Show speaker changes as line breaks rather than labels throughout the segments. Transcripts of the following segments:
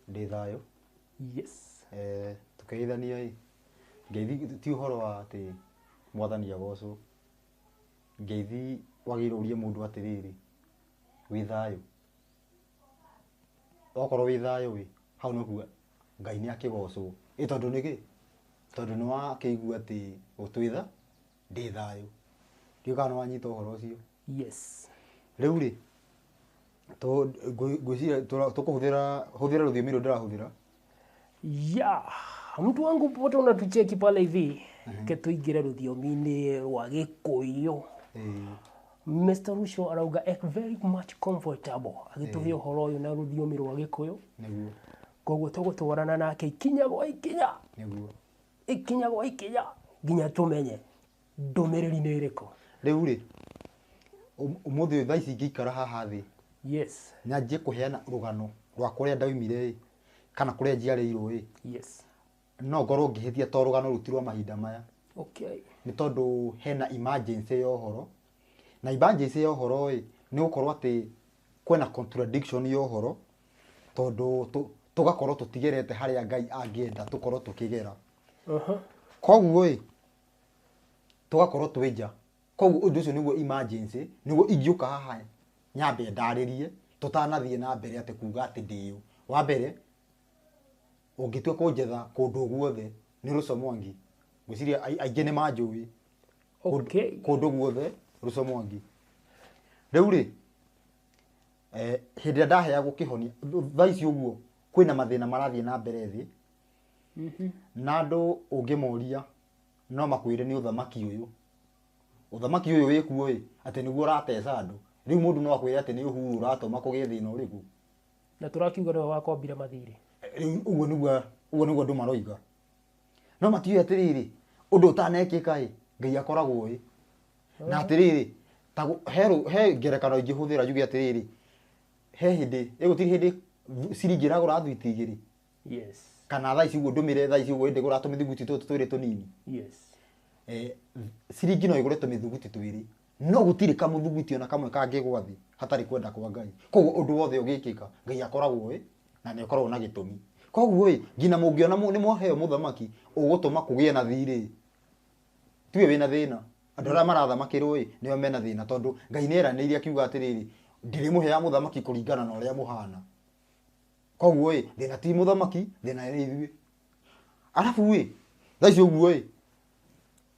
Ndĩ thayũ. Yes. Eh, tũkĩgeithania ĩ, ngeithi ti ũhoro wa atĩ mwathani agocwo. Ngeithi wagĩrĩirwo ũrie mũndũ atĩrĩrĩ, wĩ thayũ? Okorwo wĩ thayũ ĩ, hau nĩ kuga Ngai nĩ akĩgocwo. Ĩ tondũ nĩkĩ? Tondũ nĩ wakĩigua atĩ gũtwĩtha. ndĩ thayũ. Ndiũĩ kana nĩ wanyita ũhoro ũcio. Yes. Rĩu rĩ, ngwĩciria tũkũhũthĩra, hũthĩra rũthiomi rũrũ ndĩrahũthĩra. Ya, mtu wangu popote unatucheki pale hivi, ke tũingĩre rũthiomi-inĩ rwa Gĩkũyũ. Eh, Mr. Rucio arauga "Eh, very much comfortable agĩtũhe ũhoro ũyũ na rũthiomi rwa Gĩkũyũ. Nĩguo, Koguo tũgũtwarana nake ikinya gwa ikinya. nĩguo. ikinya gwa ikinya nginya tũmenye ndũmĩrĩri nĩ ĩrĩkũ. Rĩu rĩ, ũm- ũmũthĩ ũyũ thaa ici ingĩikara haha thĩ Yes, nyanjie kũheana rũgano rwa kũrĩa ndaumire ĩ kana kũrĩa njiarĩirwo ĩ yes. no ngorwo ngĩhĩtia to rũgano rũu ti rwa mahinda maya Okay. nĩ tondũ hena emergency ya ũhoro na emergency ya ũhoro ĩ nĩ gũkorwo atĩ kwĩna contradiction ya ũhoro tondũ tũ- tũgakorwo tũtigerete harĩa ngai angĩenda tũkorwo tũkĩgera Mhm. koguo ĩ tũgakorwo twĩ nja koguo ũndũ ũcio nĩguo emergency nĩguo ingĩũka haha nyambe ndarĩrie tũtanathiĩ na mbere atĩ kuga atĩ ndĩũ wa mbere Ũngĩtua kũnjetha kũndũ o guothe nĩ Russo Mwangi, ngwĩciria ai- aingĩ nĩ manjũĩ Kũndũ- Okay. kũndũ guothe Russo Mwangi. Rĩu rĩ, eh, hĩndĩ ĩrĩa ndaheagwo kĩhonia, thaa ici ũguo kwĩna mathĩna marathiĩ na mbere thĩ na andũ ũngĩmoria no makwĩre nĩ ũthamaki ũyũ ũthamaki ũyũ wĩkuo ĩ atĩ nĩguo ũrateca andũ rĩu mũndũ no akwĩre atĩ nĩ ũhuru ũratũma kũgĩe thĩna ũrĩkũ Na tũrakiuga nĩwe wakombire mathirĩ. Rĩu ũguo nĩguo ũguo nĩguo andũ maroiga. No matiũĩ atĩrĩrĩ, ũndũ ũtanekĩka-ĩ, Ngai akoragwo oĩ. Na atĩrĩrĩ, ta gũ he rũ he ngerekano ingĩhũthĩra njuge atĩrĩrĩ, he hĩndĩ, ĩ gũtirĩ hĩndĩ ciringi ĩragũra thwiti igĩrĩ? Yes. Kana thaa ici ũguo ndũmĩre thaa ici ũguo hĩndĩ ĩgũraga tũmĩthuguiti tũtũ twĩrĩ tũnini? Yes. Ciringi no ĩgũre tũmĩthuguiti twĩrĩ. No gũtirĩ kamũthugwiti o na kamwe kangĩgwa thĩ hatarĩ kwenda kwa Ngai. Kwoguo ũndũ wothe ũgĩkĩka, Ngai akoragwo-ĩ, na nĩ akoragwo na gĩtũmi. Kwoguo-ĩ, nginya mũngĩona nĩ mwaheo mũthamaki ũgũtũma kũgĩe na thirĩ-ĩ, tiwe wĩ na thĩna. Andũ arĩa marathamakĩrwo-ĩ, nĩo me na thĩna tondũ Ngai nĩ eranĩire akiuga atĩrĩrĩ, Ndĩrĩmũheaga mũthamaki kũringana na ũrĩa mũhana. Kwoguo-ĩ, thĩna ti mũthamaki, thĩna nĩ ithuĩ. Arabu-ĩ, thaa ici ũguo-ĩ,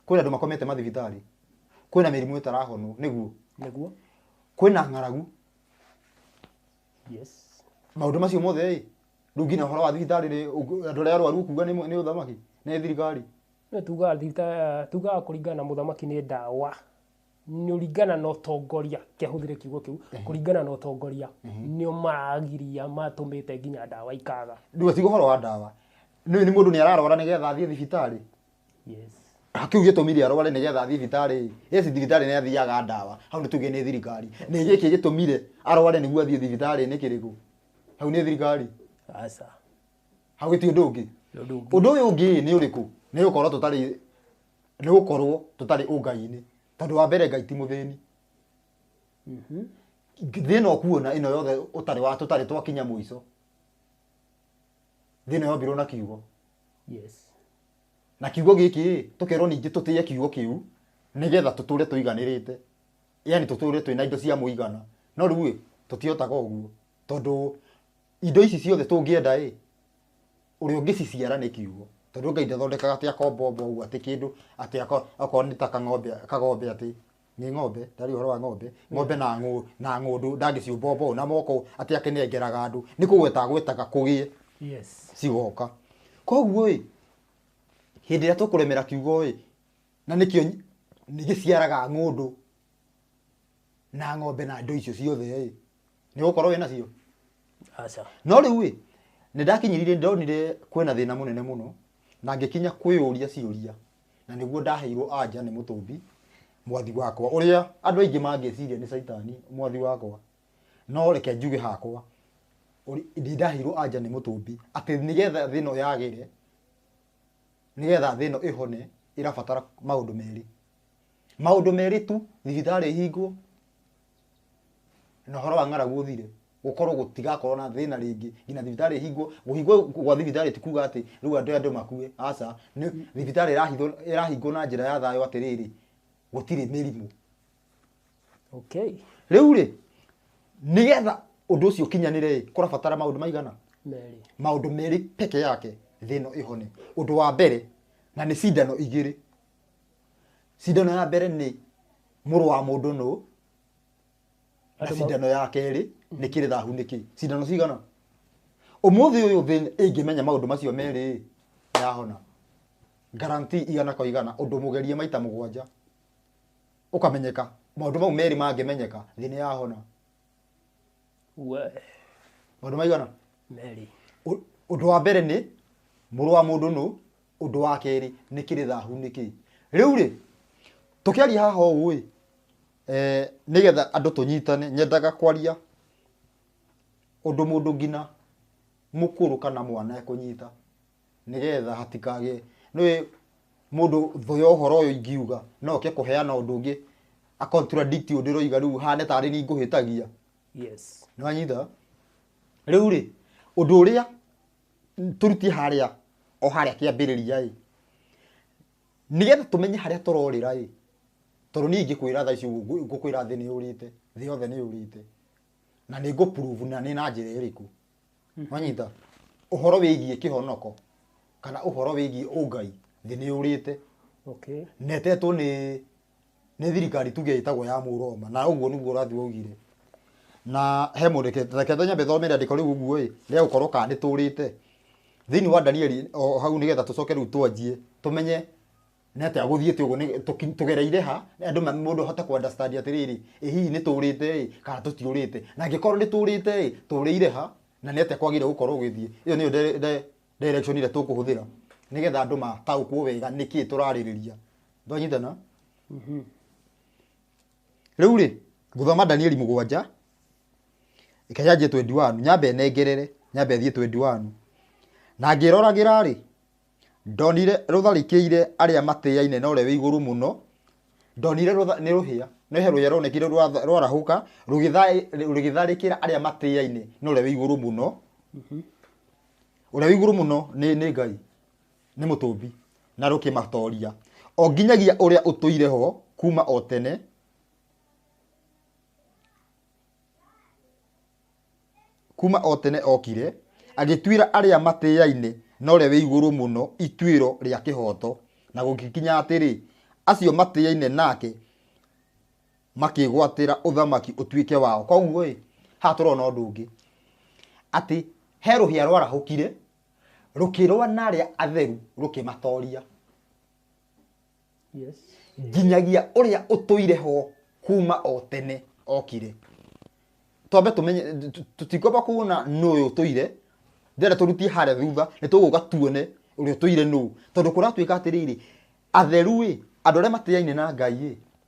kwĩna andũ makomete mathibitarĩ kwĩna mĩrimũ ĩtarahonwo nĩguo nĩguo kwĩna ng'aragu yes maũndũ macio mothe ĩ rĩu nginya ũhoro wa thibitarĩ rĩ ũgu- andũ arĩa arwaru ũkuga nĩ nĩ ũthamaki nĩ thirikari no tugaga thirikari tugaga kũringana na mũthamaki nĩ ndawa nĩũringana na ũtongoria kehũthĩre kiugo kĩu kũringana na ũtongoria nĩo maragiria matũmĩte nginya ndawa ikaga ndũga ti ũhoro wa ndawa nĩ nĩ mũndũ nĩ ararwara nĩgetha athiĩ thibitarĩ yes kĩu gĩtũmire arware nĩgetha athiĩ thibitarĩ yes thibitarĩ nĩ athiaga ndawa hau nĩ tuge nĩ thirikari nĩ gĩkĩ gĩtũmire arware nĩguo athiĩ thibitarĩ nĩ kĩrĩkũ hau nĩ thirikari aca hau gĩti ũndũ ũngĩ Nĩ ũndũ ũngĩ. ũndũ ũyũ ũngĩ nĩ ũrĩkũ nĩ gũkorwo tũtarĩ nĩ gũkorwo tũtarĩ ũngai-inĩ tondũ wa mbere ngai ti mũthĩni thĩna ũkuona ĩno yothe ũtarĩ wa tũtarĩ twakinya mũico thĩna yombirwo na kiugo yes na kiugo gĩkĩ ĩ, tũkerwo ningĩ tũtĩye kiugo kĩu nĩgetha tũtũre tũiganĩrĩte yani tũtũre twĩna indo cia mũigana no rĩu ĩ tũtihotaga ũguo tondũ indo ici ciothe tũngĩenda ĩ ũrĩa ũngĩciciara nĩ kiugo tondũ ngai ndathondekaga atĩ akombombo ũguo atĩ kĩndũ atĩ ako- akorwo nĩ ta kang'ombe kagombe atĩ nĩ ng'ombe ndarĩ ũhoro wa ng'ombe ng'ombe na ng'ũ- na ng'ũndũ ndangĩciũmbombo ũũ na moko atĩ akĩnengeraga andũ nĩ kũgweta agwetaga kũgĩe yes cigoka koguo ĩ hĩndĩ ĩrĩa tũkũremera kiugo ĩ na nĩkĩo nyi- nĩ gĩciaraga ng'ũndũ na ng'ombe na ndo icio ciothe ĩ nĩ gũkorwo wĩ nacio aca no rĩu ĩ nĩ ndakinyirire ndonire kwĩna thĩna mũnene mũno na ngĩkinya kwĩyũria ciũria na nĩguo ndaheirwo anja nĩ mũtũmbi mwathi wakwa ũrĩa andũ aingĩ mangĩciria nĩ caitani mwathi wakwa no reke njuge hakwa ũrĩ- nĩ ndaheirwo anja nĩ mũtũmbi atĩ nĩgetha thĩna ũyũ yagĩre nĩgetha thĩna ĩhone ĩrabatara maũndũ merĩ Maũndũ merĩ tu, thibitarĩ ĩhingwo na ũhoro wa ng'aragu ũthire, gũkorwo gũtigakorwo na thĩna rĩngĩ nginya thibitarĩ ĩhingwo. Kũhingwo gwa thibitarĩ ti kuuga atĩ rĩu andũ aya andũ makue, aca. Nĩ thibitarĩ ĩrahithwo ĩrahingwo na njĩra ya thayũ atĩrĩrĩ, gũtirĩ mĩrimũ. Okay. Rĩu-rĩ, nĩgetha ũndũ ũcio ũkinyanĩre-ĩ, kũrabatara maũndũ maigana? Merĩ. Maũndũ merĩ peke yake thĩ ĩno ĩhone. Ũndũ wa mbere, na nĩ cindano igĩrĩ. Cindano ya mbere nĩ mũrũ wa mũndũ nũ na Andũ mau- cindano ya kerĩ nĩ kĩrĩthahu nĩ kĩ cindano cigana ũmũthĩ ũyũ thĩ ĩngĩmenya maũndũ macio merĩ yahona guarantee igana kwa igana ũndũ mũgerie maita mũgwanja ũkamenyeka maũndũ mau merĩ mangĩmenyeka thĩ nĩ yahona we maũndũ maigana merĩ Ũ- ũndũ wa mbere nĩ mũrũ wa mũndũ nũ Ũndũ wa kerĩ nĩ kĩrĩ thahu nĩ kĩĩ? Rĩu-rĩ, tũkĩaria haha ũũ-ĩ, nĩgetha andũ tũnyitane, nyendaga kwaria ũndũ mũndũ nginya mũkũrũ kana mwana ekũnyita, nĩgetha hatikagĩe, nĩũĩ mũndũ thũ ya ũhoro ũyũ ingiuga no oke kũheana ũndũ ũngĩ a contradict ũndũ ndĩroiga rĩu hane tarĩ niĩ ngũhĩtagia. Nĩwanyita? Rĩu-rĩ, ũndũ ũrĩa tũrutie harĩa o harĩa kĩambĩrĩria ĩ nĩgetha tũmenye harĩa tũrorĩra ĩ tondũ niĩ ingĩkwĩra thaa ici ũguo ngũkwĩra thĩ nĩ yũrĩte thĩ yothe nĩ yũrĩte na nĩ ngũprove na nĩ na njĩra ĩrĩkũ wanyita ũhoro wĩgiĩ kĩhonoko kana ũhoro wĩgiĩ ũngai thĩ nĩ yũrĩte okay netetwo nĩ nĩ thirikari tuge ĩtagwo ya Mũroma, na ũguo nĩguo ũrathi waugire, na he mũndũ ũkĩte, reke ta nyambe thome rĩandĩko rĩu ũguo ĩ, rĩa gũkorwo kana nĩ tũũrĩte thĩinĩ wa Danieli o hau nĩgetha tũcoke rĩu twanjie tũmenye nĩ atĩa gũthiĩte ũguo, nĩ- tũki- tũgereire ha, andũ ma- mũndũ ahote kũ understand atĩrĩrĩ, ĩ hihi nĩ tũũrĩte ĩ, kana tũtiũrĩte, na angĩkorwo nĩ tũũrĩte ĩ, tũũrĩire ha, na nĩ atĩa kwagĩrĩire gũkorwo gũgĩthiĩ, ĩyo nĩyo dire- dire- direction ĩrĩa tũkũhũthĩra nĩgetha andũ mataũkwo wega nĩkĩ tũrarĩrĩria ndwanyitana rĩu rĩ ngũthoma danieli mũgwanja ĩkanyanjie 21 nyambe nengerere nyambe thiĩ 21 na ngĩroragĩra rĩ ndonire rũtharĩkĩire arĩa matĩaine na ũrĩa wĩ igũrũ mũno ndonire rũtha- nĩ rũhĩa nĩ he rũhĩa rwonekire rwa- rwarahũka rũgĩtha- rũgĩtharĩkĩra arĩa matĩaine na ũrĩa wĩ igũrũ mũno ũrĩa wĩ igũrũ mũno nĩ nĩ ngai Nĩ mũtũmbi na rũkĩmatooria. O nginyagia ũrĩa ũtũire ho kuma o tene. Kuma o tene okire. Agĩtuĩra arĩa matĩaine na ũrĩa wĩ igũrũ mũno ituĩro rĩa kĩhooto. Na gũgĩkinya atĩrĩ, acio matĩaine nake makĩgwatĩra ũthamaki ũtuĩke wao. Koguo-ĩ, haha tũrona ũndũ ũngĩ, atĩ he rũhĩa rwarahũkire rũkĩrũa na arĩa atheru rũkĩmatoria Yes. nginyagia ũrĩa ũtũire ho kuma o tene okire twambe tũmenye tũ- tũtikwamba kuona nũ ũyũ ũtũire ndĩrenda tũrutie harĩa thutha nĩ tũgũka tuone ũrĩa ũtũire nũ tondũ kũratuĩka atĩrĩrĩ atheru ĩ andũ arĩa matiaine na ngai ĩ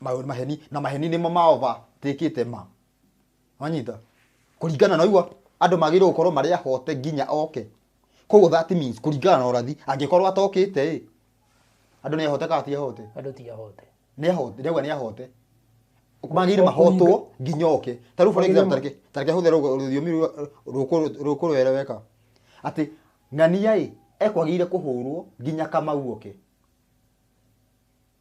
ma- maheni na maheni nĩmo maova tĩkĩte ma wanyita kũringana na ũguo andũ magĩrĩirwo gũkorwo marĩ ahote nginya oke koguo that means kũringana na ũrathi angĩkorwo atokĩte ĩ andũ nĩ ahote kana ti ahote andå ti ahote nĩ ahote ndauga nĩ ahote magĩrĩire mahotwo nginya oke ta rĩu for Magĩrĩire example ma- tareke tareke hũthĩre rũ- rũthiomi rwa- rũkũ- rũkũrũ wereweka atĩ ng'ania ĩ ekwagĩrĩire kũhũrwo nginya kamau oke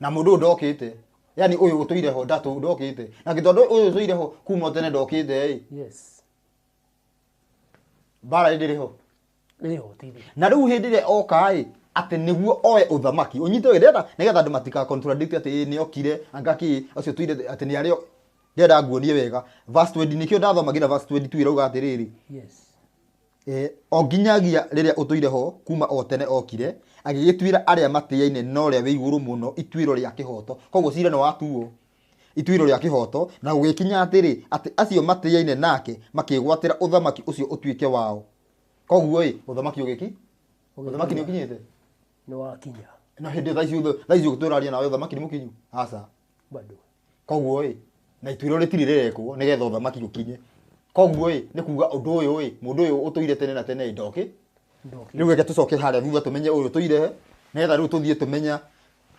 na mundu ndokite yani uyu gutuire ho ndatu ndokite na gitondu uyu tuire ho kuma tene ndokite ri yes bara ndiri ho niyo tiri na riu hindi ria oka ri ati niguo oe uthamaki unyite ndirenda nigetha andu matika contradict ati ni okire angaki ucio tuire ati ni ario ndirenda nguonie wega verse 20 nikio ndathoma nginya verse 22 irauga atiriri yes E, o nginyagia rĩrĩa ũtũire ho kuma o tene okire agĩgĩtuĩra arĩa matĩaine na ũrĩa wĩ igũrũ mũno ituĩro rĩa kĩhoto koguo cira nĩ watuo ituĩro rĩa kĩhoto na gũgĩkinya atĩrĩ atĩ acio matĩaine nake makĩgwatĩra ũthamaki ũcio ũtuĩke wao koguo ĩ ũthamaki ũgĩki ũthamaki nĩ ũkinyĩte nĩ wakinya na hĩndĩ thaa ici ũtha- thaa ici ũgĩtũraria nawe ũthamaki nĩ mũkinyu aca bado Koguo ĩ, na ituĩro rĩtirĩ rĩrekwo nĩgetha ũthamaki ũkinye. Koguo ĩ, nĩ kuga ũndũ ũyũ ĩ, mũndũ ũyũ ũtũire tene na tene ĩ, ndokĩ. Rĩu reke tũcoke harĩa thutha tũmenye ũyũ ũtũire he, nĩgetha rĩu tũthiĩ tũmenya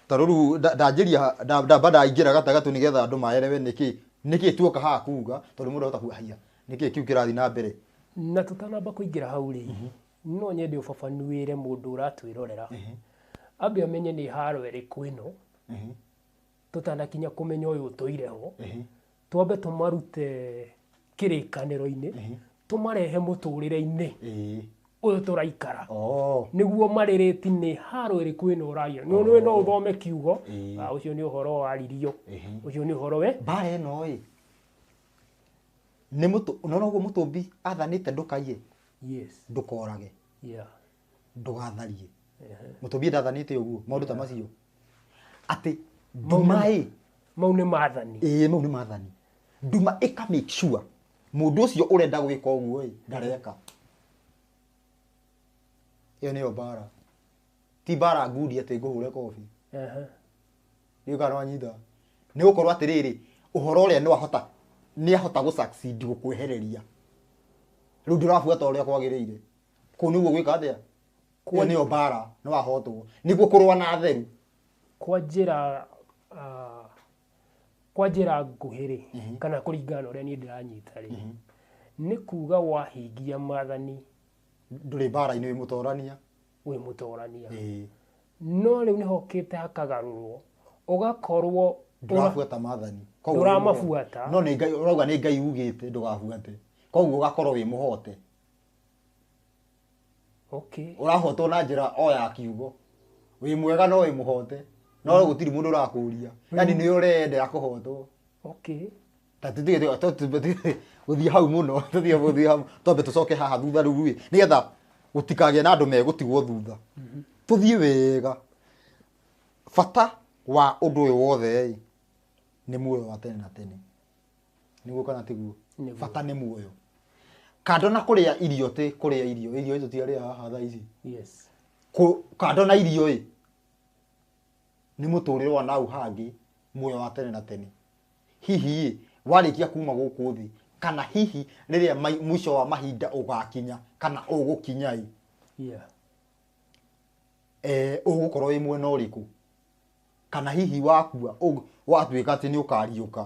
ta rĩu nda- ndanjĩria nda- ndamba ndaingĩra gatagatĩ nĩgetha andũ maerewe nĩkĩ nĩkĩ tuoka haha kuga tondũ mũndũ ahota kuga haiya nĩkĩ kĩu kĩrathiĩ na mbere na tũtanamba kũingĩra hau rĩ no nyende ũbabanuĩre mũndũ ũratwĩrorera ambe amenye nĩ haro ĩrĩkũ ĩno tũtanakinya kũmenya ũyũ ũtũire ho, twambe tũmarute kĩrĩkanĩro-inĩ, tũmarehe mũtũrĩre-inĩ ũyũ tũraikara. Oh. Nĩguo marĩrĩti nĩ haro ĩrĩkũ ĩno ũraria. Nĩ ũĩ no ũthome kiugo, ah, ũcio nĩ ũhoro waririo, ũcio nĩ ũhoro we. Mbara ĩno ĩ, nĩ mũtũ, ũnona ũguo mũtũmbi athanĩte ndũkaiye, Yes, ndũkorage. yeah. ndũgatharie mũtumia ndathanĩte ũguo maũndũ ta macio atĩ nduma ĩ mau nĩ mathani ĩĩ mau nĩ mathani nduma ĩka make sure mũndũ ũcio ũrenda gwĩka ũguo ĩ ndareka ĩyo nĩyo mbara ti mbara ngundi atĩ ngũhũre kobi Ehe. nĩ ũkana wanyita nĩ gũkorwo atĩrĩrĩ ũhoro ũrĩa nĩ wahota nĩ ahota gũ succeed gũkwehereria rĩu ndũrabuata ũrĩa kwagĩrĩire kå nä guo gwä ka atä a kuo nä yo mbara nä wahotwo nä guo kå rwa na atheru kwa njĩra ah, kwa njĩra nguhĩ rĩ kana kũringana na ũrĩa niĩ ndĩranyita rĩ nĩ kuga wahingia maathani ndå rä mbara-inä wä må torania wĩ mũtorania no rĩu nĩho ũkĩte hakagarũrwo ũgakorwo ũra- ndårabuata mathani Koguo Ndũramabuata. no nĩ ngai ũrauga nĩ ngai ugĩte ndũgabuate koguo ũgakorwo wĩ mũhote okay ũrahotwo na njĩra o ya kiugo wĩ mwega no wĩ mũhote no mm. gũtirĩ mũndũ ũrakũria mm. yani nĩ ũreyendera kũhotwo okay ta tutige gũthiĩ hau mũno tutige gũthiĩ hau twambe tũcoke haha thutha rĩu rĩ nĩgetha gũtikagĩa na andũ megũtigwo thutha mm-hmm. tũthiĩ wega bata wa ũndũ ũyũ wothe rĩ nĩ muoyo wa tene na tene niguo kana tiguo Nĩguo. bata nĩ muoyo kando na kũrĩa irio tĩ kũrĩa irio irio icio tiarĩa haha thaa ici yes Kũ- kando na irio ĩ nĩ mũtũrĩre wa nau hangĩ muoyo wa tene na tene hihi ĩ warĩkia kuma gũkũ thĩ kana hihi rĩrĩa mai- mũico wa mahinda ũgakinya kana ũgũkinya ĩ yeah eh, ũgũkorwo wĩ mwena ũrĩkũ kana hihi wakua ũg- watuĩka atĩ nĩ ũkariũka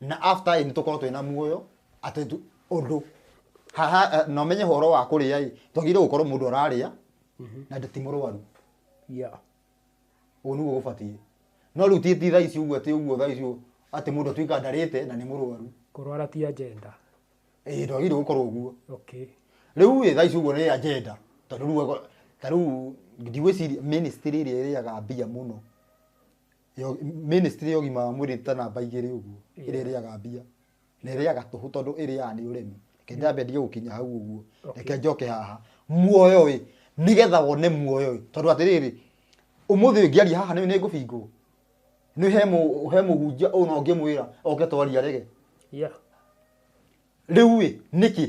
na after ĩ nĩtũkorwo twĩna muoyo atĩ tu- ũndũ haha eh, na ũmenye ũhoro wa kũrĩa ĩ twagĩrĩire gũkorwo mũndũ ararĩa na ndĩ ti mũrwaru yeah. ũguo nĩguo gũbatiĩ no rĩu ti ti thaa ici ũguo atĩ ũguo thaa ici ũguo, atĩ mũndũ atuĩka ndarĩte na nĩ mũrwaru kũrwara ti agenda ĩĩ ndwagĩrĩire gũkorwo ũguo okay rĩu ĩ thaa ici ũguo nĩ agenda tondũ rĩu ako- ta rĩu ndigwĩciria ministry ĩrĩa ĩrĩaga mbia mũno Yo- ministry ya ũgima wa mwĩrĩ ta namba igĩrĩ ũguo ĩrĩa ĩrĩaga mbia na ĩrĩaga tũhũ tondũ ĩrĩaga nĩ ũremi reke nyambe ndige gũkinya hau ũguo reke njoke haha muoyo ĩ nĩgetha wone muoyo ĩ tondũ atĩrĩrĩ ũmũthĩ ũyũ ngĩaria haha nĩ nĩ ngũbingwo nĩ he mũ- he mũhunjia ũyũ no ngĩmwĩra oke twaria rege Yeah. rĩu ĩ nĩkĩ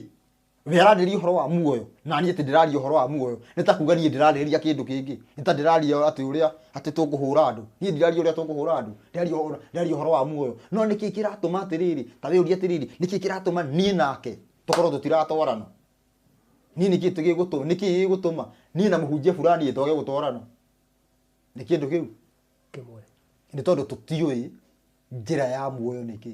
we aranĩria ũhoro wa muoyo na niĩ atĩ ndĩraria ũhoro wa muoyo nĩ ta kuga niĩ ndĩrarĩrĩria kĩndũ kĩngĩ nĩ ta ndĩraria atĩ ũrĩa atĩ tũkũhũra andũ niĩ ndiraria ũrĩa tũkũhũra andũ ndĩraria ũhoro- ndĩraria ũhoro wa muoyo no nĩ kĩĩ kĩratũma atĩrĩrĩ ta wĩũria atĩrĩrĩ nĩ kĩĩ kĩratũma niĩ nake tũkorwo tũtiratwarana niĩ nĩ kĩĩ tũ- gĩgũtũ- nĩ kĩĩ gĩgũtũma niĩ na mũhunjia fulani twage gũtwarana nĩ kĩndũ kĩu kĩmwe nĩ tondũ tũtiũĩ njĩra ya muoyo nĩkĩ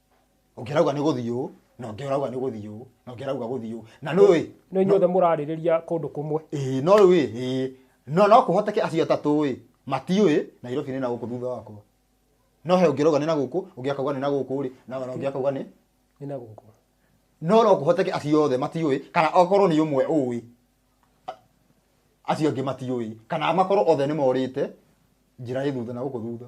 ũngĩ arauga nĩ gũthiĩ ũũ na ũngĩ arauga nĩ gũthiĩ ũũ na ũngĩ arauga gũthiĩ ũũ na nĩ ũĩ no inyuothe mũrarĩrĩria kũndũ kũmwe ĩĩ no rĩu ĩ ĩĩ no no kũhoteke acio atatũ ĩ matiũĩ nairobi nĩ na gũkũ thutha wakwa no he ũngĩ arauga nĩ na gũkũ ũngĩ akauga nĩ na gũkũ rĩ na na ũngĩ akauga nĩ nĩ na gũkũ no no kũhoteke acio othe matiũĩ kana okorwo nĩ ũmwe ũĩ a- acio angĩ matiũĩ kana makorwo othe nĩ morĩte njĩra ĩ thutha na gũkũ thutha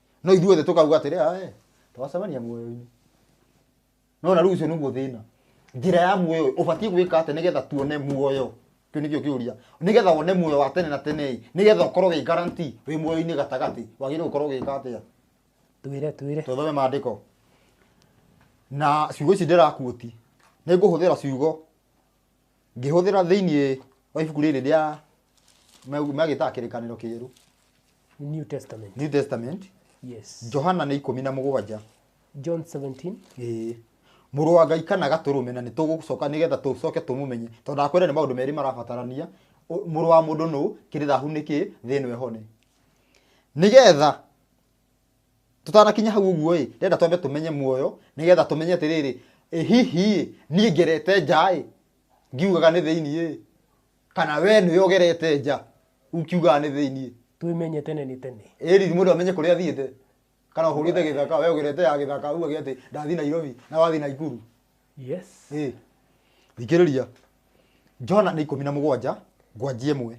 no ithuĩ thĩ tũkauga atĩrĩ ae twacemania muoyo-inĩ no na rĩu ũcio nĩguo thĩna njĩra ya muoyo ũbatiĩ gwĩka atĩ nĩgetha tuone muoyo kĩu nĩkĩo kĩũria nĩgetha wone muoyo wa tene na tene nĩgetha ũkorwo wĩ guarantee wĩ muoyo-inĩ gatagatĩ wagĩrĩirwo gũkorwo ũgĩka atĩa twĩre twĩre tũthome maandĩko na ciugo ici ndĩrakuoti nĩ ngũhũthĩra ciugo ngĩhũthĩra thĩinĩ wa ibuku rĩrĩ rĩa me- magĩtaga kĩrĩkanĩro kĩerũ New Testament. new testament Yes. johana nĩ ikũmi na mũgwanja John 17. Ĩĩ. mũrũ wa ngai kana gatũrũme na nĩ tũgũcoka nĩgetha tũcoke tũmũmenye tondũ ndakwĩra nĩ maũndũ merĩ marabatarania Ũ- mũrũ wa mũndũ nũ kĩrĩrahu nĩ kĩ thĩ ĩno ĩhone nĩgetha Tũtanakinya hau ũguo ĩ, ndĩrenda twambe tũmenye muoyo, nĩgetha tũmenye atĩrĩrĩ, ĩ hihi ĩ, niĩ ngerete nja ĩ, ngiugaga nĩ thĩiniĩ ĩ, kana we nĩwe ũgerete nja ũkiugaga nĩ thĩiniĩ? Twĩmenye tene nĩ tene. Ĩri mũndũ amenye kũrĩa athiĩte. Kana ũhũrĩte gĩthaka, we ũgerete ya gĩthaka, uge atĩ ndathiĩ Nairobi, na wathiĩ Naikuru. Yes. Ĩ, thikĩrĩria. Johana nĩ ikũmi na mũgwanja, ngwanjia ĩmwe.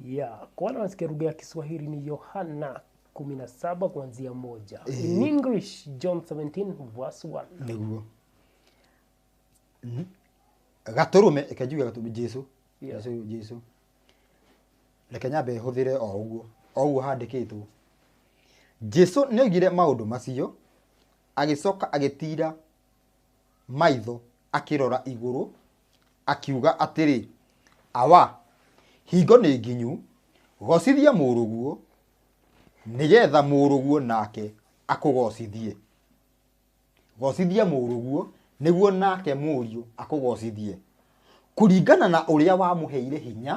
ya kwa wale wanasikia lugha ya Kiswahili ni Yohana 17 kuanzia moja. In English John 17 verse 1. niguo gaturume reke njuge gaturume jesu Yeah. jesu jesu reke nyambe hũthĩre o ũguo o ũguo handĩkĩtwo jesu nĩ oigire maũndũ macio agĩcoka agĩtira maitho akĩrora igũrũ Akiuga atĩrĩ, Awa, hingo nĩ nginyu, goocithia mũrũguo, nĩ geetha mũrũguo naake akũgoocithie. Goocithia mũrũguo, nĩguo naake mũriũ akũgoocithie, kũringana na ũrĩa wamũheire hinya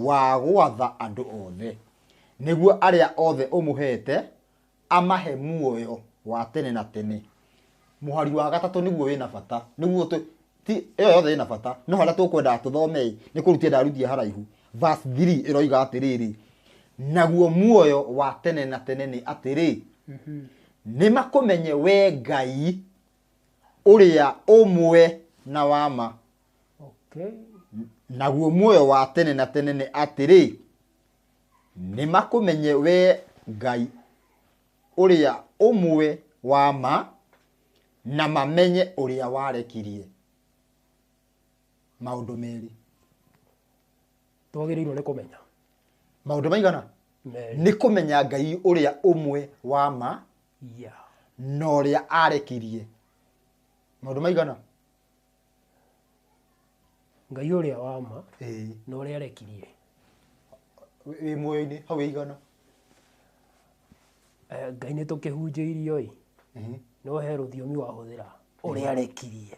wa gwatha andũ oothe, nĩguo arĩa oothe ũmũheete amahe muoyo wa tene na tene mũhari wa gatatũ nĩguo wĩna bata nĩguo tũ ti ĩyo yothe ĩna bata no harĩa tũkwendaga tũthomei nĩ kũrutia ndarutia haraihu verse 3 ĩroiga atĩrĩrĩ naguo muoyo wa tene na tene nĩ atĩrĩ nĩ makũmenye we ngai ũrĩa ũmwe na wama Okay. naguo muoyo wa tene na tene nĩ atĩrĩ nĩmakũmenye wee Ngai ũrĩa ũmwe wa ma, na mamenye ũrĩa warekirie maũndũ merĩ. Twagĩrĩirwo nĩ kũmenya. Maũndũ maigana? Merĩ. Nĩ kũmenya Ngai ũrĩa ũmwe wa ma, Yeah. na ũrĩa arekirie maũndũ maigana? Ngai ũrĩa wa ma Ĩĩ. na ũrĩa arekirie. Wĩ- Wĩ muoyo-inĩ hau ĩigana. Eh, Ngai nĩ tũkĩhunjĩirio-ĩ, Mhm. no he rũthiomi wahũthĩra ũrĩa arekirie.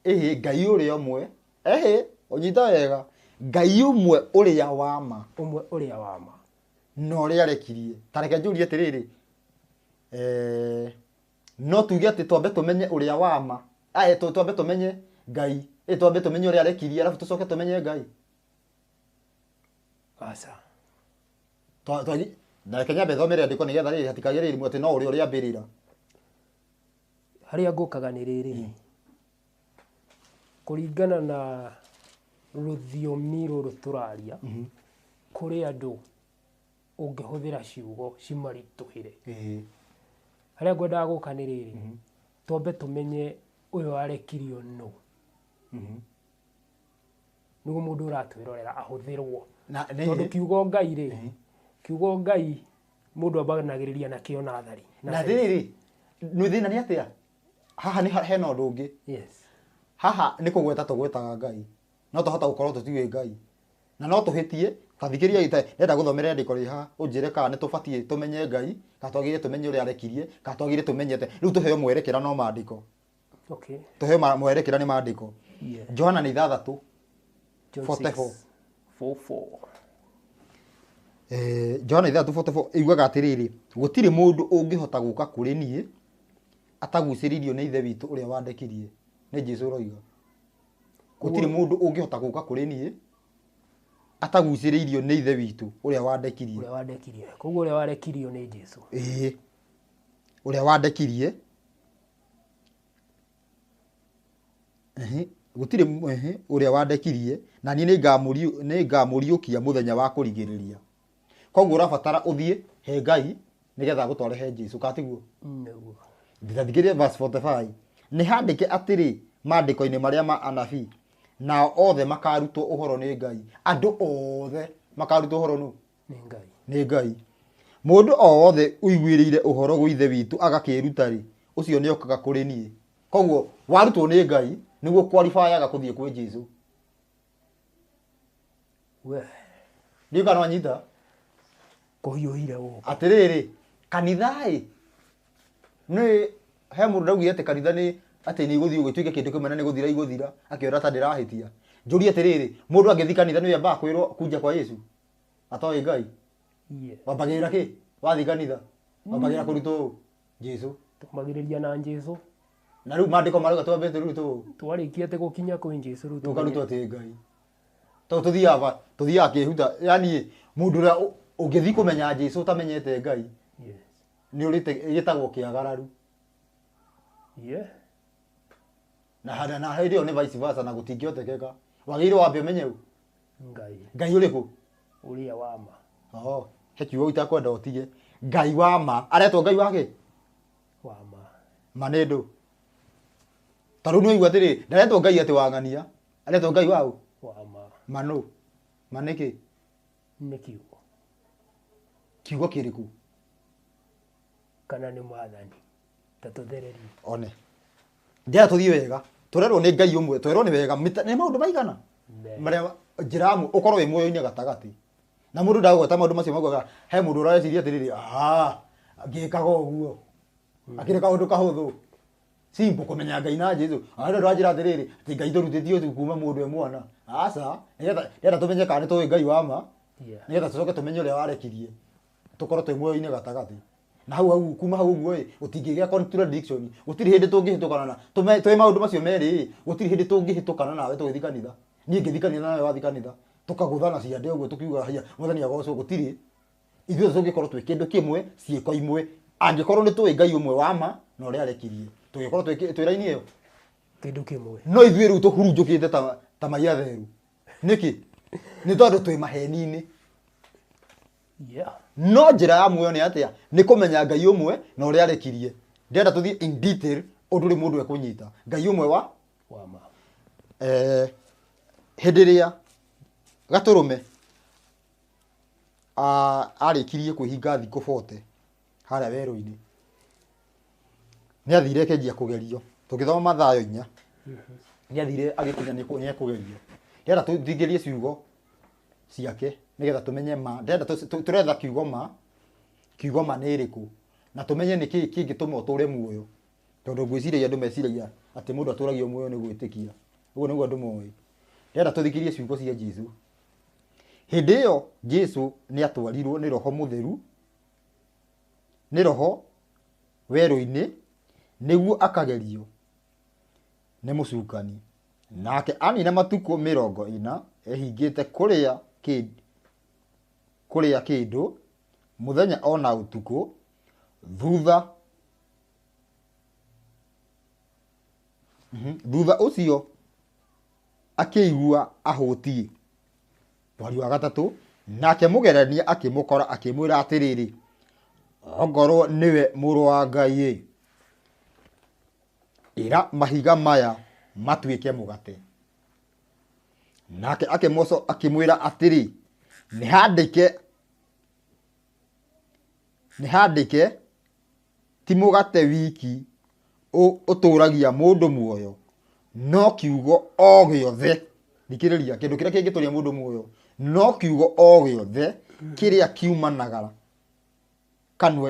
Ĩhĩ Ngai ũrĩa ũmwe. Ĩhĩ ũnyita wega. Ngai ũmwe ũrĩa wa ma Ũmwe ũrĩa wa ma. na ũrĩa arekirie. Ta reke njũrie atĩrĩrĩ. Eh, No tuge atĩ twambe tũmenye ũrĩa wa ma, ae, tũ, twambe tũmenye Ngai, ĩ, twambe tũmenye ũrĩa arekirie, arabu tũcoke tũmenye Ngai? Aca. Twa, twagi, na reke nyambe thome rĩandĩko nĩgetha rĩrĩ, hatikagĩe rĩrĩ, atĩ no ũrĩa ũrĩambĩrĩra. Harĩa ngũkaga nĩ rĩrĩ, kũringana na rũthiomi rũrũ tũraria, kũrĩ andũ ũngĩhũthĩra ciugo cimaritũhĩre. Harĩa ngwendaga gũka nĩ rĩrĩ, twambe tũmenye ũyũ arekirio nũ. Mhm. Nĩguo mũndũ ũratwĩrorera ahũthĩrwo. Tondũ kiugo Ngai rĩ, kiugo Ngai mũndũ ambanagĩrĩria nakĩo nathari. Na rĩrĩ, thĩna nĩ atĩa? Haha hena ũndũ ũngĩ. Haha nĩ kũgweta tũgwetaga Ngai. no twahota gũkorwo tũtiũĩ Ngai na no tũhĩtie. Ta thikĩrĩria gĩta, ndĩrenda gũthomera ĩandĩko rĩrĩ haha, ũnjĩre kana nĩ tũbatiĩ tũmenye Ngai, kana twagĩrĩire tũmenye ũrĩa arekirie, kana twagĩrĩire tũmenye atĩa. Rĩu tũheo mwerekera no maandĩko. Okay. Tũheo ma- mwerekera nĩ maandĩko. Yeah. Johana nĩ ithathatũ. John 44. 6:44. Eh, Johana ithathatũ 44 ĩugaga atĩrĩrĩ, gũtirĩ mũndũ ũngĩhota gũka kũrĩ niĩ atagucĩrĩirio nĩ Ithe witũ ũrĩa wandekirie. Nĩ Jesu ũroiga. gũtirĩ mũndũ ũngĩhota gũka kũrĩ niĩ atagucĩrĩirio nĩ ithe witũ ũrĩa wandekirie ũrĩa wandekirie koguo ũrĩa warekirio nĩ jesu ĩĩ ũrĩa wandekirie Ehe, gũtirĩ m- ehe, ũrĩa wandekirie na niĩ nĩngamũriũ- nĩngamũriũkia mũthenya wa kũrigĩrĩria koguo ũrabatara ũthiĩ he ngai nĩgetha agũtware he jesu katiguo nĩguo ndĩrathikĩrĩria verse 45 nĩ handĩke atĩrĩ maandĩko-inĩ marĩa ma anabii nao othe makarutwo ũhoro nĩ ngai andũ othe makarutwo ũhoro nũ nĩ ngai nĩ ngai mũndũ o wothe ũiguĩrĩire ũhoro gwĩ ithe witũ agakĩĩruta-rĩ ũcio nĩ okaga kũrĩ niĩ koguo warutwo nĩ ngai nĩguo kwaribayaga kũthiĩ kwĩ jesu we ndio kana nyita kuhiuhire guku atiriri kanitha ĩ nĩ he mũndũ ndaugire atĩ kanitha nĩ atĩ nĩ igũthiĩ ũgĩtuĩke kĩndũ kĩmwe na nĩ gũthira igũthira akĩona ta ndĩrahĩtia njũrie atĩrĩrĩ mũndũ angĩthi kanitha nĩ ambaga kwĩrwo kunja kwa yesu atoĩ ngai yes wambagĩrĩra kĩ wathi kanitha wambagĩrĩra kũrutwo ũũ Jesu. Tũmagirĩria na Jesu. Na rĩu maandĩko marauga twambe rĩu tũ Twarĩkia atĩ gũkinya kwĩ Jesu rĩu tũkarutwo tũmenye- atĩ Ngai. Tondũ tũthiaga ba- tũthiaga kĩhuta. Yaani mũndũ ũrĩa ũ- ũngĩthiĩ kũmenya Jesu ũtamenyete Ngai Yes. nĩ ũrĩte gĩtagwo kĩagararu. Yeah. Na handa- na hĩndĩ ĩyo nĩ vice versa na gũtingĩhotekeka. Wagĩrĩirwo wambe ũmenye ũ? ngai ngai å rä kå å rä a wa ma Oho, he kiugo itakwenda ũtige ngai wa ma aretwo ngai wake wa ma ma nĩ ndũ ta rĩu nĩwaigua atĩrĩ ndaretwo ngai atĩ wang'ania aretwo ngai wa ũ wa ma ma nũ ma nĩkĩ nĩ kiugo kiugo kĩrĩkũ kana nĩ mwathani ta tũthererie one njĩra tũthiĩ wega tũrerwo nĩ ngai ũmwe twerwo nĩ wega mĩta- nĩ maũndũ maigana marĩa njĩra amwe ũkorwo wĩ muoyo-inĩ gatagatĩ na mũndũ ndagweta maũndũ macio maguaga he mũndũ ũrareciria atĩrĩrĩ "Ah, ngĩkaga ũguo akĩrĩ kaũndũ kahũthũ simbo kũmenya ngai na jesu andũ andũ anjĩra atĩrĩrĩ atĩ ngai ndũrutĩtio ũthu kuma mũndũ e mwana aca nĩgetha nĩgetha tũmenye kana nĩ tũĩ ngai wa ma Yeah. nĩgetha tũcoke tũmenye ũrĩa warekirie tũkorwo twĩ muoyo-inĩ gatagatĩ na hau hau kuma hau ũguo ĩ gũtingĩgĩa contradiction gũtirĩ hĩndĩ tũngĩhĩtũkana na tũme- twĩ maũndũ macio merĩ ĩ gũtirĩ hĩndĩ tũngĩhĩtũkana nawe tũgĩthiĩ kanitha niĩ ngĩthiĩ kanitha nawe wathiĩ kanitha tũkagũthana ciande ũguo tũkiuga haiya mwathani agocwo gũtirĩ ithuothe tũngĩkorwo twĩ kĩndũ kĩmwe ciĩko imwe angĩkorwo nĩ tũĩ ngai ũmwe wa ma na ũrĩa arekirie tũngĩkorwo twĩ kĩ- twĩ raini ĩyo kĩndũ kĩmwe no ithuĩ rĩu tũhurunjũkĩte ta, ta maiatheru nĩkĩ nĩ tondũ twĩ maheni-inĩ Yeah. no njĩra ya muoyo nĩ atĩa nĩ kũmenya ngai ũmwe na ũrĩa arekirie ndĩrenda tũthiĩ in detail ũndũ rĩ mũndũ ekũnyita ngai ũmwe wa Wa ma. eh, hĩndĩ ĩrĩa gatũrũme a- arĩkirie kwĩhinga thikũ 40 harĩa werũ-inĩ nĩ athire akenjia kũgerio tũngĩthoma mathayo inya nĩ athire agĩkinya nĩ ekũ- nĩ ekũgerio ndĩrenda tũthingĩrie ciugo ciake nigetha tumenye ma ndenda turetha kiugo ma kiugo ma ni iriku na tumenye ni kii kingituma uture muoyo tondu ngwiciragia andu meciragia ati mundu aturagio muoyo ni gwitikia uguo niguo andu moĩ ndenda tuthikirie ciugo cia Jesu hindi iyo Jesu ni atwarirwo ni roho mutheru ni roho weru-ini niguo akagerio nĩ mũcukani nake anina matukũ mĩrongo ĩna ehingĩte kũrĩa kĩ- kũrĩa kĩndũ mũthenya o na ũtukũ thutha Mhm. thutha ũcio akĩigua ahũtiĩ mweri wa gatatũ nake mũgerania akĩmũkora akĩmwĩra atĩrĩrĩ ongorwo nĩwe mũrũ wa ngai Ĩra mahiga maya matuĩke mũgate. Nake akĩmoco akĩmwĩra atĩrĩ, nĩhandĩke nĩhandĩke ti mũgate wiki ũ- ũtũũragia mũndũ muoyo no kiugo o gĩothe thikĩrĩria kĩndũ kĩrĩa kĩngĩtũria mũndũ muoyo no kiugo o gĩothe kĩrĩa kiumanaga kanua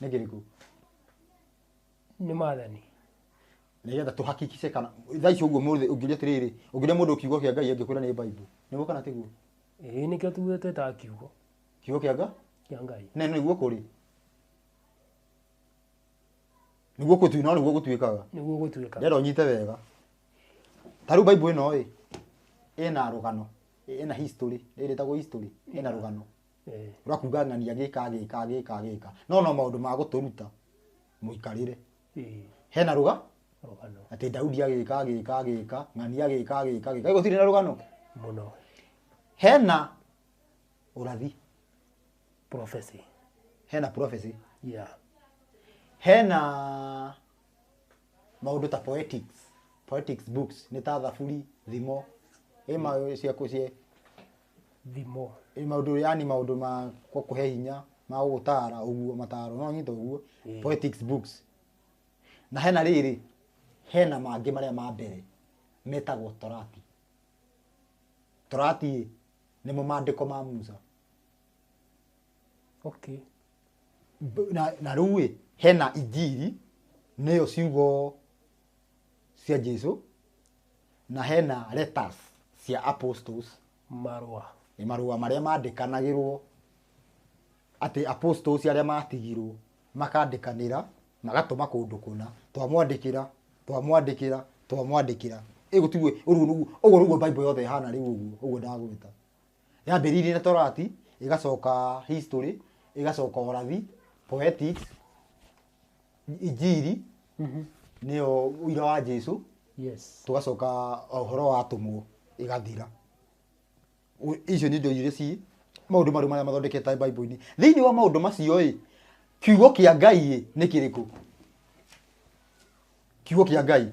nĩ kĩrĩkũ nĩ mathani nĩgetha tũhakikice kana thaa ici ũguo mũthĩ ũngĩũria atĩrĩrĩ ũngĩũria mũndũ kiugo kĩa ngai angĩkwĩra nĩ bible nĩguo kana tiguo ĩĩ nĩkĩo tuge twĩtaga kiugo kiugo kĩa ngai kĩa ngai na nĩguo kũrĩ nĩguo kũtu no nĩguo gũtuĩkaga nĩguo gũtuĩka ndĩrenda ũnyite wega ta rĩu bible ĩno ĩ ĩna rũgano ĩna history ĩrĩtagwo history ĩna rũgano Eh. ũrakuga ng'ania gĩka gĩka gĩka gĩka no no maũndũ ma gũtũruta mũikarĩre Eh. hena rũga Rũgano. atĩ daudi agĩka agĩka agĩka ng'ania agĩka agĩka agĩka ĩgo tirĩ na rũgano Mũno. hena ũrathi Prophecy. hena prophecy Yeah. hena maũndũ ta poetics poetics books nĩ ta thaburi thimo ĩ ma cia kũ- cia thimo. Ĩ maũndũ yani maũndũ ma gũkũhe hinya ma gũgũtara ũguo mataro no nyita ũguo Ĩĩ. poetics books na hena rĩrĩ hena mangĩ marĩa ma mbere metagwo torati torati nĩmo mandĩko ma Musa Okay. B- na, na rĩu ĩ hena injiri nĩyo ciugo cia Jesu na hena letters cia apostles marũa nĩ marũa marĩa mandĩkanagĩrwo atĩ apostles arĩa matigirwo makandĩkanĩra magatũma kũndũ kũna twamwandĩkĩra twamwandĩkĩra twamwandĩkĩra ĩgũ tiguo ũguo nĩguo ũguo nĩguo bible yothe ĩhana rĩu ũguo ũguo ndagwĩta yambĩrĩirie na torati ĩgacoka history ĩgacoka ũrathi poetics injiri nĩyo ũira wa jesu yes tũgacoka ũhoro wa atũmwo ĩgathira Ũ- icio nĩ indo iria ci maũndũ marĩa marĩa mathondekete bible-inĩ thĩinĩ wa maũndũ macio ĩ kiugo kĩa ngai ĩ nĩ kĩrĩkũ kiugo kĩa ngai